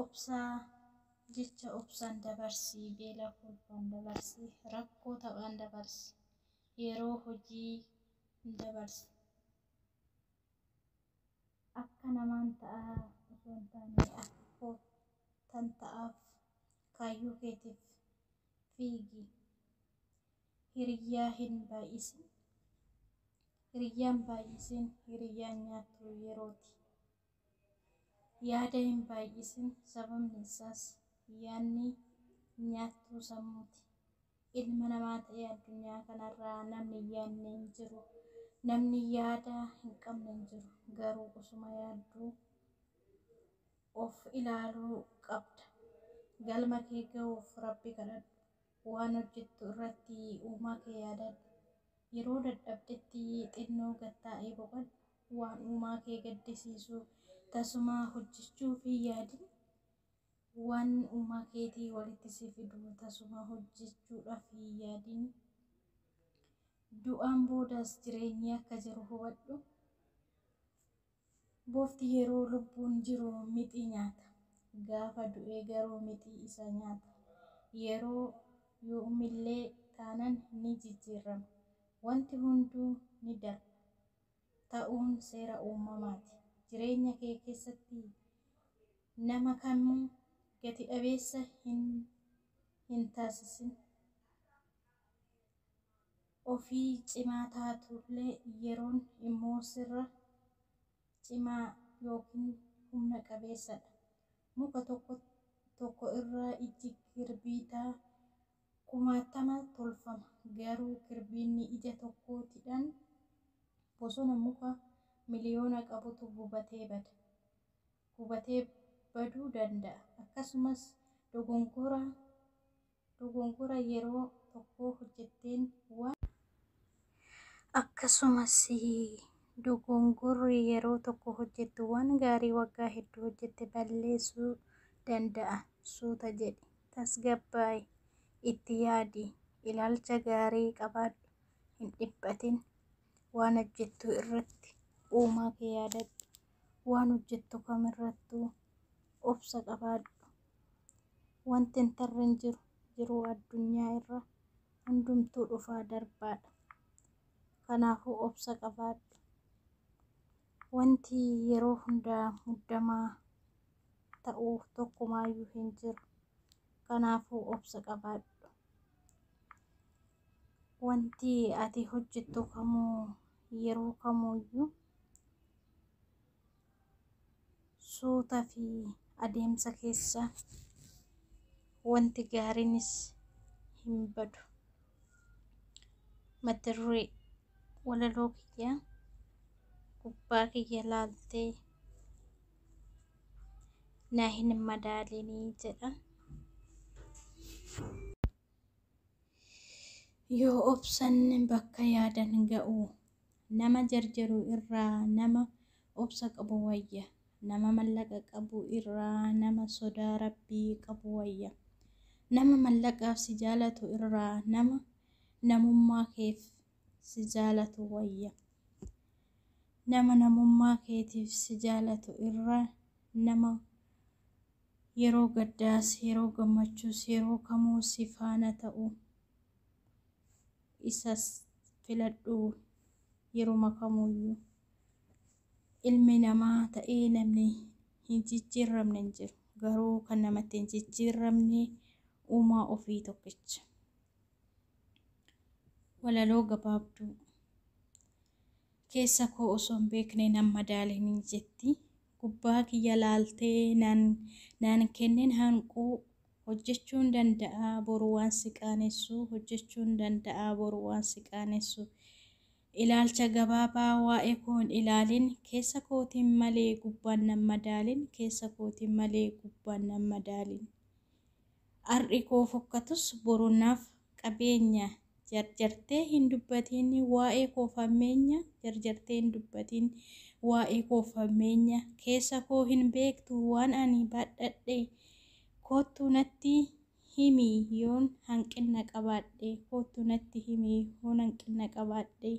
Obsaa Jecha obsaan dabarsi, beela kolfaan dabarsi, rakkoo taphaan dabarsi, yeroo hojii dabarsi. Akka namaan ta'aa osoo hin taane akka koottan ta'aaf kaayyoo keetiif fiigi. Hiriyyaa hin baay'isin, hiriyyaan baay'isiin hiriyyaan nyaattuu yerooti. Yaada hin baay'isin, sababni isaas, yaanni nyaattuu sammuuti. Ilma namaa ta'ee addunyaa kanarraa namni hin yaadne hin jiru. Namni yaada hin qabne hin jiru. Garuu osuma yaadduu of ilaaluu qabda. Galma kee ga'uuf Rabbi kadhadhu. Waan hojjettu irratti Uumaa kee yaadadhu. Yeroo dadhabdetti xinnoo gad taa'ii boqadhu. Waan uumaa kee gaddisiisu tasumaa hojjechuuf hin yaadin. Waan uumaa keetii walitti si fidu tasumaa hojjechuudhaaf hin yaadin. Du'aan boodas jireenyi akka jiru hubadhu. Bofti yeroo lubbuun jiru mixii nyaata. Gaafa du'e garuu mixii isa nyaata. Yeroo yoomillee taanan ni jijjiirrama. Wanti hunduu ni darba. ta'uun seera uumamaati. Jireenya kee keessatti nama kamuu gati dhabeessa hin hin taasisin. Ofii cimaa taatullee yeroon immoo sirra cimaa ykn humna qabeessadha. Muka tokko tokko irraa ijji girbiitaa. kumaattama tolfama. Garuu kirbiinni ija tokkootidhan bosona muka miliyoona qabutu gubatee bada. Gubatee baduu danda'a. Akkasumas dogongora dogongora yeroo tokkoo hojjetteen waan. Akkasumas, dogongorri yeroo tokko hojjettu waan gaarii waggaa hedduu hojjette balleessuu danda'a. Suuta jedhi. Tasgabbaa'i. Itti yaadi. Ilaalcha gaarii qabaadhu. Hin dhiphatin. Waan hojjettu irratti uumaa kee yaadadhu. Waan hojjettu kamirrattuu obsa qabaadhu. Wanti hin tarre hin jiru. Jiruu addunyaa irra Hundumtuu dhufaa darbaadha. Kanaafuu obsa qabaadhu. Wanti yeroo hundaa muddamaa ta'u tokkumaayyuu hin jiru. Kanaafuu obsa qabaadhu. Wanti ati hojjettu kamuu yeroo kamuyyuu suuta fi adeemsa keessa wanti gaariinis hin badu. Mata duree walaloo kiyya gubbaa kiyya laaltee na hin madaalinii jedhan. Yoo obsan bakka yaadan ga'u Nama jarjaru irraa nama obsa qabu wayya. Nama mallaqa qabu irraa nama sodaa Rabbii qabu wayya. Nama mallaqaaf si jaalatu irraa nama namummaa keef si jaalatu wayya. Nama namummaa keetiif si jaalatu irra nama yeroo gaddaas, yeroo gammachuus, yeroo kamuu si faana ta'u isas filadhu yeruma kamuuyyu ilmi namaa ta'ee namni hin jijjiirramne hin jiru garuu kan namatti hin jijjiirramne uumaa ofii tokkicha walaloo gabaabduu keessa koo osoo hin beekne nan madaalinii jetti gubbaa kiyya laaltee naan naan kennen hanquu Hojjechuun danda'a boru waan si qaanessu Hojjechuun danda'a boru waan si qaanessu Ilaalcha gabaabaa waa'ee koo hin ilaalin Keessa kootiin malee gubbaan nan madaalin Keessa kootiin malee gubbaan nan madaalin Har'i koo fokkatus boru naaf qabeenya jarjartee hin dubbatiin waa'ee koo fammeenya jarjartee hin dubbatiin waa'ee koo fammeenya keessa koo hin beektu waan ani baadhadhe koottu natti himi yoon hanqinna qabaadhe koottu natti himi yoon hanqinna qabaadhe.